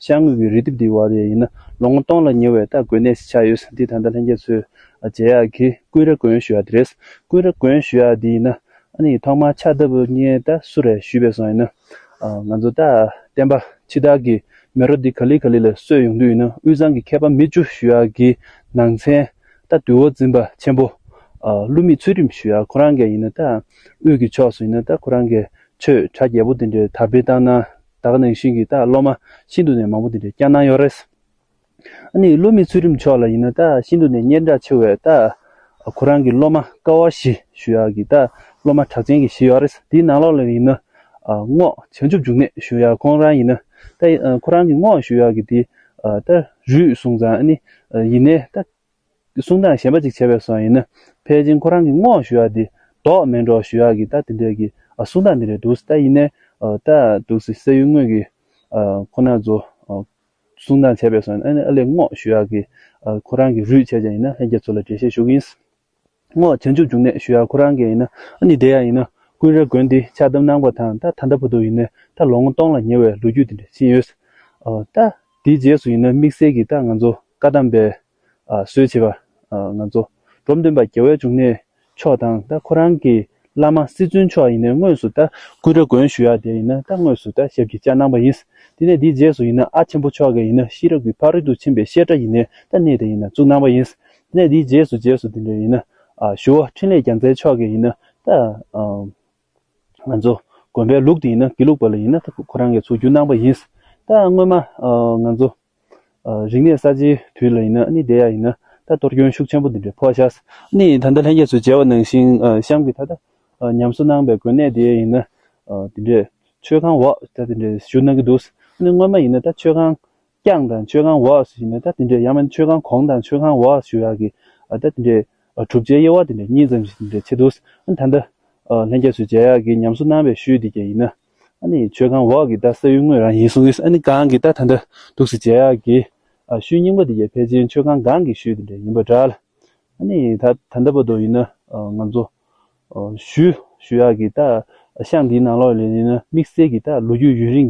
ཤར་ངོས་ཀྱི་རི་ལྡེབས་འདིའི་བར་ཡས་ཡིན་ན་ལོ་ངོ་སྟོང་ལ་ཉེ་བའི་སྟག་རྒོད་གནས་སུ་ཆགས་ཡོད་འདི་ད་ལྟ་ལྷན་རྒྱས་ཚོས་རྗེ་ཡག་གིས་ཀུན་ར་དགོན་ཞུ་བ་འདི་རེད། ཀུན་ར་དགོན་ཞུ་བ་འདི་ཡིན་ན་ནི་ཐོག་མར་ཕྱག་བཏབ་ངས་ད་སུ་རེད་ཞུས་པས་སོང་ཡིན་ན། ང་ཚོ་ད་བསྟན་པ་འཆི་བདག་གི་མེ་རོ་འདི་ག་ལི་ག་ལི་ལ་གསོད་ཡོང་དུས་ཡིན་ན་དབུས་གཙང་གི་མཁས་པ་མི་བཅུ་ཞུ་ཡག་གི་ནང་ཚན་ད་དུས་འོ་འཛིན་པ་ཆེན་པོ་ཀླུ་མེས་ཚུལ་ཁྲིམས་ཞུ་ཡག་ཁོ་རང་གས་ཡིན་ན་ད་དབུས་ཀྱི་ཕྱོགས་སུ་ཡིན་ན་ད་ཁོ་རང་གས་ཆོས་གྲ་རྒྱས་པོ་འདི་འདྲའི་དར་སྤེལ་བཏང་ན། བདག་ནང་བཞིན་གྱི་ད་སློབ་མ་ཤིན་ཏུ་ནས་མང་པོ་འདི་འདྲའི་སྐྱག་སྣང་ཡོད་རེད། ཨ་ནི་བསླུ་མེད་ཚུལ་ཁྲིམས་མཆོག་ལ་ཡིན་ན་ད་ཤིན་ཏུ་ནས་གཉེར་འདྲ་ཆེ་བས་ད་ཁོ་རང་གི་སློབ་མ་ཀ་བ་ཞི་ཞུ་ཡག་གི་ད་སློབ་མ་གྲགས་ཅན་གྱི་ཞིག་ཡོད་རེད་འདིའི་ནང་ལོགས་ལ་ཡིན་ན་རྔོག་བྱང་ཆུབ་འབྱུང་གནས་ཞུ་ཡག་ཁོང་རང་ཡིན་ན་ད་ཁོ་རང་གི་རྔོག་ཞུ་ཡག་གི་འདི་ད་རུས་བཟུང་ཙང་ཨ་ནི་ཡིན་ནས་ད། གསུང་དང་གཞན་པ་ཅིག་བྱས་པའི་སོགས་ཡིན་ན་ཕལ་ཆེན་ཁོ་རང་གི་བསྔོག་ཞུ་ཡག་འདི་བདོག་སྨད་འགྲོགས་ཞུ་ཡག་གི་ད་དེ་འདྲས་ཀྱི་གསུང་དང་འདི་རེད་འདུག་ད་ཡིན་ནའི་ད་འདུག་སི་སེ་ཡུལ་དངོས་ཀྱི་ཁོ་ན་ཚོ་གསུང་དང་བྱས་པའི་སོགས་ཡིན་ན་ཨ་ལས་བསྔོག་ཞུ་ཡག་གི་ཁོ་རང་གི་རུས་ཆད་ཅན་ཡིན་ན་ལྷན་རྒྱས་ཚོ་ལ་འགྲེལ་བཤད་ཞུ་གི་ཡིན། སྔོ་བྱང་ཆུབ་འབྱུང་གནས་ཞུ་ཡག་ཁོ་རང་གི་ཡིན་ན་ཨ་ནི་དེ་ཡང་ཡིན་ན་ཀུན་ར་དགོན་འདི་ཕྱག་བསྡམས་གནང་བ་དང་ད་ད་ལྟ་བུ་དུ་ཡིན་ནས་ད་ལོ་ངོ་སྟོང་ལ་ཉེ་བའི་ལོ་རྒྱུས་དེ་འདྲ་ཕྱིན་ཡོད། ད་དེའི་རྗེས་སུ་ཡིན་ན་དམིགས་བསལ་གྱིས་ད་ང་ཚོ་བཀའ་གདམས་པའི་སྲོལ་ཕྱེས་པ་ང་ཚོ་འབྲོམ་སྟོན་པ་རྒྱལ་བའི་འབྱུང་གནས་མཆོག་དང་ད་ཁོ་རང་གི་བླ་མ་སྲིད་བཙུན་མཆོག་ཡིན་ནས་དངོས་སུ་ད་ཀུན་ར་དགོན་ཞུ་ཡག་དེ་ཡིན་ན་ད་དངོས་སུ་ད་ཞབས་ཀྱི་བཅའ་གནང་པ་ཡིན། དེ་ནས་དེའི་རྗེས་སུ་ཡིན་ན་ཨ་ཆེན་པོ་མཆོག་གི་ཡིན་ན་ཤེས་རབ་ཀྱི་ཕག་རི་དུ་ཕྱིན་པའི་བཤད་གྲྭ་ཡིན་ནས་ད་གནས་དེ་ཡིན་ན་བཙུགས་གནང་པ་ཡིན། གནས་འདིའི་རྗེས་སུ་རྗེས་སུ་དེ་འདྲ་ཡིན་ན། ཞུ་བ་འཕྲིན་ལས་རྒྱ་མཚའི་ཕྱོགས་ཀྱི་ཡིན་ན། ང་ཚོ་དགོན་པའི་ལུགས་དེ་ཡིན་ན་དགེ་ལུགས་པ་ལ་ཡིན་ན་ཁོ་རང་གི་ཚུགས་རྒྱུ་གནང་པ་ཡིན། ད་སྔོན་མ་ང་ཚོ་རིག་གནས་གསར་བརྗེའི་དུས་ལ་ཡིན་ན་ནི་དེ་ཡག་ཡིན། ད་གཏོར་སྐྱོན་ཤུགས་ཆེན་པོ་འདི་འདྲ་ཕོག་ཤག་ནི་ད་ལྟ་ལྷན་རྒྱས་སུ་མཇལ་བ་ནང་བཞིན་གཤམ་གྱི་ད་ལྟ་ཉམས་གསོ་གནང་པའི་དགོན་གནས་དེ་ཡིན་ན་དེ་འདྲས་ཆོས་ཁང་འོག་ད་དེ་འདྲས་ཞུ་གནང་གི་འདུག་ནི་སྔོན་མ་ཡིན་ན་ད་ཆོས་ཁང་རྐྱང་དང་མཆོད་ཁང་འོག་ཞུ་ནས་ད་དེ་འདྲའི་ཡང་མིན་མཆོད་ཁང་གོང་དང་མཆོད་ཁང་འོག་ཞུ་ཡག་གི་ད་དེ་འདྲའི་གྲུབ་ཆའི་དབྱེ་བ་དེ་འདྲ་གཉིས་ཙམ་ཞིག་དེ་འདྲ་བྱེད་འདུག་ཨ་ནི་ད་ལྟ་ལྷན་རྒྱས་སུ་མཇལ་ཡག་གི་ཉམས་སུ་སྣང་བའི་ཤུལ་དེ་རྒྱ་ཡིན་ན་ཨ་ནི་མཆོད་ཁང་འོག་གི་ད་ས་ཡུལ་དངོས་རང་ཡིན་གསུང་གི་ཨ་ནི་གང་གི་ད་ད་འདྲ་འདུག་སེ་མཇལ་ཡག་གི་ཤུལ་རྙིང་པ་དེ་རྒྱ་ཕལ་ཆེར་མཆོད་ཁང་གང་གི་ཤུལ་དེ་འདྲ་ཡིན་པ་འདྲ་ལ་ཨ་ནི་ད་ད་ལྟ་བར་དོ་ཡིན་ན་ང་ཚོ་ཞུ་ཞུ་ཡག་གི་ད་ཤང་དེའི་ནང་ལོག་ལེ་ཡིན་ན་དམིགས་བསལ་གྱི་ད་ལོ་རྒྱུས་ཡུན་རིང